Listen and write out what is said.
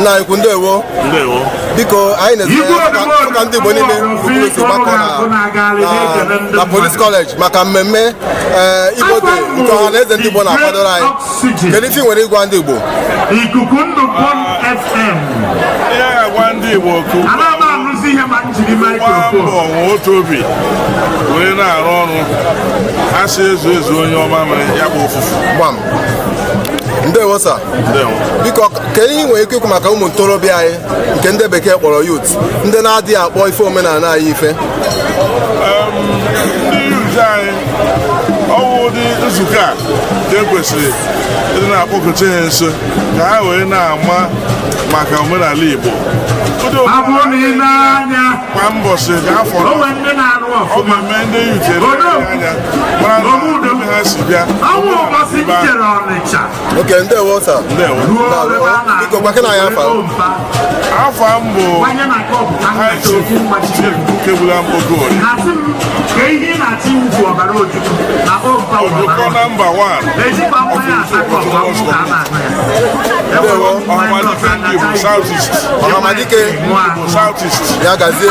nna anyị ukwu ndewo ndewo biko anyị na-ezi ka ndị Igbo niile obodo gbakọ na Police College maka mmemme eh, Igbo Day nke ọha na eze ndị Igbo na-akwadoro anyị kedu ife i nwere ịgwa ndị Igbo ikuku ndụ Bond FM gwa ndị Igbo okwu gbaa mbọ nwee otu obi were na-arụ ọrụ a sị ezu ezu onye ọma mere ya bụ ofufu ndewo sa biko kedu ihe i nwere ike ikwu maka ụmụ ntorobịa anyị nke ndị bekee kpọrọ youth ndị na-adịghị akpọ ife omenala anyị ife ndị youth anyị ọ wụ ụdị nzukọ a ka e kwesịrị ịdị na-akpọkọta ha nso ka ha wee na-ama maka omenala Igbo kwa mbọsị kwa afọ ọ ga-eme ndị youth were anya mara na ha si bịa okay ndewo sa biko gwakene anyị afa afa m bụ kebula mkpogol ojukọ number one ọhamadike ndị igbo south east ọhamadike south east ya gazie